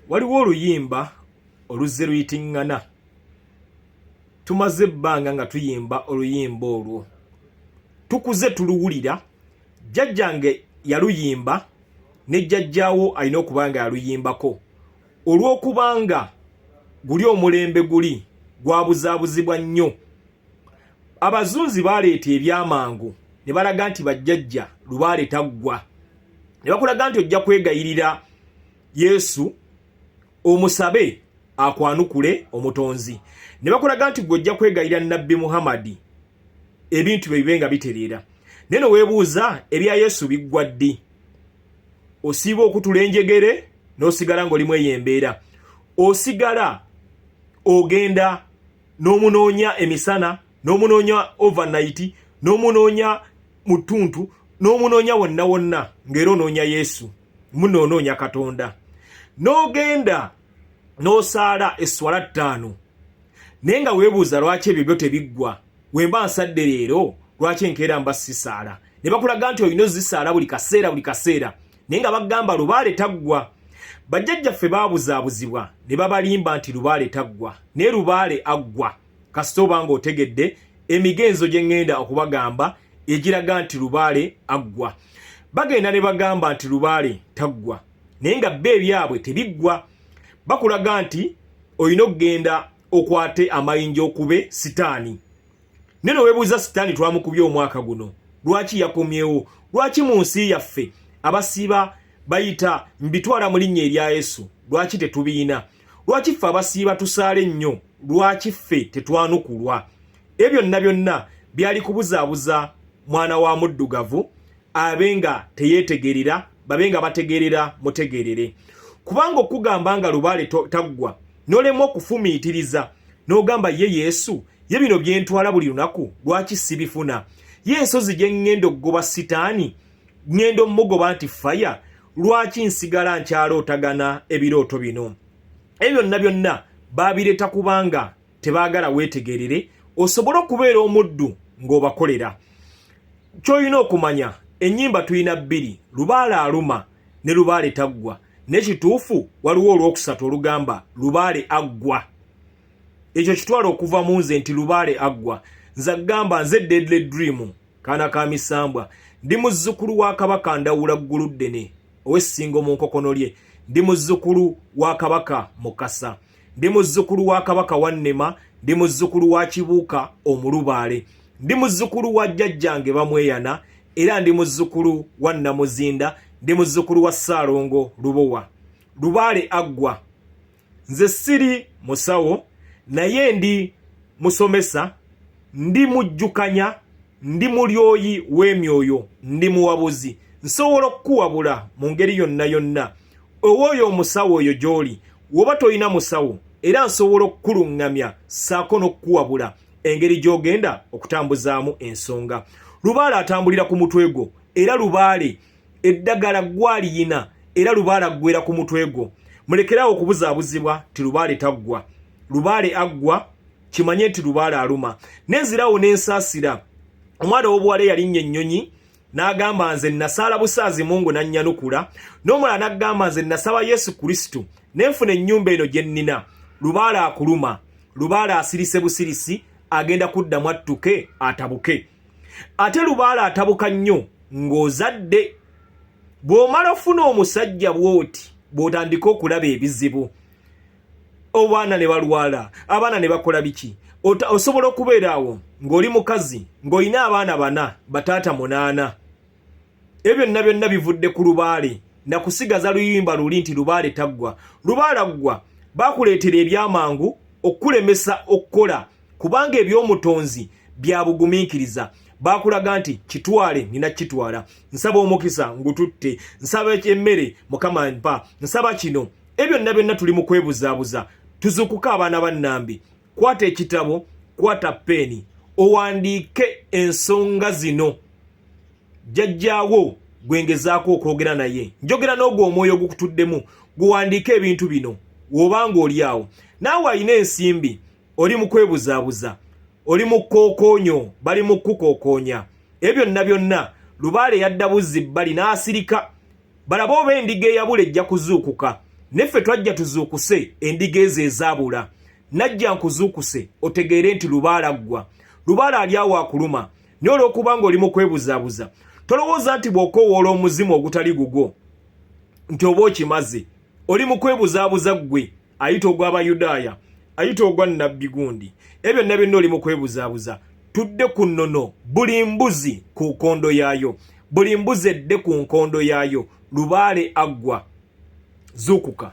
waliwo oluyimba oluzze luyitingana tumaze ebbanga nga tuyimba oluyimba olwo tukuze tuluwulira jjajjange yaluyimba ne jjajjaawo alina okuba nga yaluyimbako olw'okubanga guli omulembe guli gwabuzaabuzibwa nnyo abazunzi baleeta ebyamangu ne balaga nti bajjajja lubaale taggwa ne bakulaga nti ojja kwegayirira yesu omusabe akwanukule omutonzi ne bakulaga nti gwe ojja kwegayira nabbi muhammadi ebintu bye bibe nga bitereera naye noweebuuza ebya yesu biggwa ddi osiiba okutula enjegere n'osigala ng'olimu eyo embeera osigala ogenda n'omunoonya emisana n'omunoonya overnight n'omunoonya mu ttuntu n'omunoonya wonna wonna ng'era onoonya yesu munoonoonya katonda n'ogenda n'osaala esswala ttaano naye nga weebuuza lwaki ebyo byo tebiggwa wemba nsadde leero lwaki enkeera mba sisaala ne bakulaga nti olina ozisaala buli kaseera buli kaseera naye nga bagamba lubaale taggwa bajjajjaffe baabuzaabuzibwa ne babalimba nti lubaale taggwa naye lubaale aggwa kasita oba nga otegedde emigenzo gye ŋŋenda okubagamba egiraga nti lubaale aggwa bagenda ne bagamba nti lubaale taggwa naye nga bba ebyabwe tebiggwa bakulaga nti olina okugenda okwate amayinja okube sitaani naye nowebuuza sitaani twamukubye omwaka guno lwaki yakomyewo lwaki mu nsi yaffe abasiiba bayita mbitwala mu linnya erya yesu lwaki tetubiyina lwaki ffe abasiiba tusaale nnyo lwaki ffe tetwanukulwa ebyo byonna byonna byali kubuzaabuza mwana wa muddugavu abe nga teyeetegerera babe nga bategerera mutegerere kubanga okugamba nga lubaale taggwa nolemu okufumiitiriza n'ogamba ye yesu ye bino byentwala buli lunaku lwaki sibifuna ye ensozi gye ŋŋenda okugoba sitaani ŋŋenda omugoba nti faya lwaki nsigala nkyalootagana ebirooto bino ebyo byonna byonna baabireeta kubanga tebaagala weetegerere osobole okubeera omuddu ng'obakolera ky'olina okumanya ennyimba tulina bbiri lubaale aluma ne lubaale taggwa naye kituufu waliwo olwokusatu olugamba lubaale aggwa ekyo kitwala okuva mu nze nti lubaale aggwa nze agamba nze deadly dream kaana ka misambwa ndi muzzukulu wa kabaka ndawula ggulu ddene ow'essingo mu nkokono lye ndi muzzukulu wa kabaka mukasa ndi muzzukulu wa kabaka wannema ndi muzzukulu wa kibuuka omulubaale ndi muzzukulu wa jjajjange bamweyana era ndi muzzukulu wa nnamuzinda ndi muzzukulu wa ssaalongo lubowa lubaale aggwa nze siri musawo naye ndi musomesa ndi mujjukanya ndi mulyoyi w'emyoyo ndi muwabuzi nsobola okukuwabula mu ngeri yonna yonna owooyo omusawo oyo gy'oli woba tolina musawo era nsobola okukuluŋŋamya ssaako n'okukuwabula engeri gy'ogenda okutambuzaamu ensonga lubaale atambulira ku mutwe gwo era lubaale eddagala gwaliyina era lubaale aggwera ku mutwe gwo mulekerawo okubuzaabuzibwa ti lubaale taggwa lubaale aggwa kimanye nti lubaale aluma nenzirawo nensaasira omwana ow'obuwala eyalinnya ennyonyi n'agamba nze nasaala busaazi mungu nannyanukula n'omulala n'agamba nze nasaba yesu kristo ne nfuna ennyumba eno gye nnina lubaale akuluma lubaale asirise busirisi agenda kuddamu attuke atabuke ate lubaala atabuka nnyo ng'ozadde bw'omala ofuna omusajja bw'oti bw'otandika okulaba ebizibu obaana ne balwala abaana ne bakola biki osobola okubeera awo ng'oli mukazi ng'olina abaana bana bataata munaana ebyo byonna byonna bivudde ku lubaale na kusigaza luyimba luli nti lubaale taggwa lubaala ggwa bakuleetera ebyamangu okukulemesa okukola kubanga ebyomutonzi bya bugumiikiriza bakulaga nti kitwale nina kitwala nsaba omukisa ngututte nsaba emmere mukama mpa nsaba kino ebyo byonna byonna tuli mu kwebuzaabuza tuzukuka abaana bannambi kwata ekitabo kwata peeni owandiike ensonga zino jjajjaawo gwe ngezaako okwogera naye njogera n'ogwo omwoyo ogukutuddemu guwandiike ebintu bino woba ng'oli awo naawe alina ensimbi oli mu kwebuzaabuza oli mu kukookoonyo bali mu kukukokoonya ebyo byonna byonna lubaale yadda buzzi bbali n'asirika balabe oba endiga eyabula ejja kuzuukuka neffe twajja tuzuukuse endiga ezo ezaabula najja nkuzuukuse otegeere nti lubaala ggwa lubaala ali awo akuluma naye olwokuba nga oli mu kwebuzaabuza tolowooza nti bw'okoowoola omuzimu ogutali gugwo nti oba okimaze oli mu kwebuzaabuza ggwe ayita ogw'abayudaaya ayita ogwa nnabbi gundi ebyo byonna byonna oli mu kwebuzaabuza tudde ku nnono buli mbuzi ku nkondo yaayo buli mbuzi edde ku nkondo yaayo lubaale aggwa zuukuka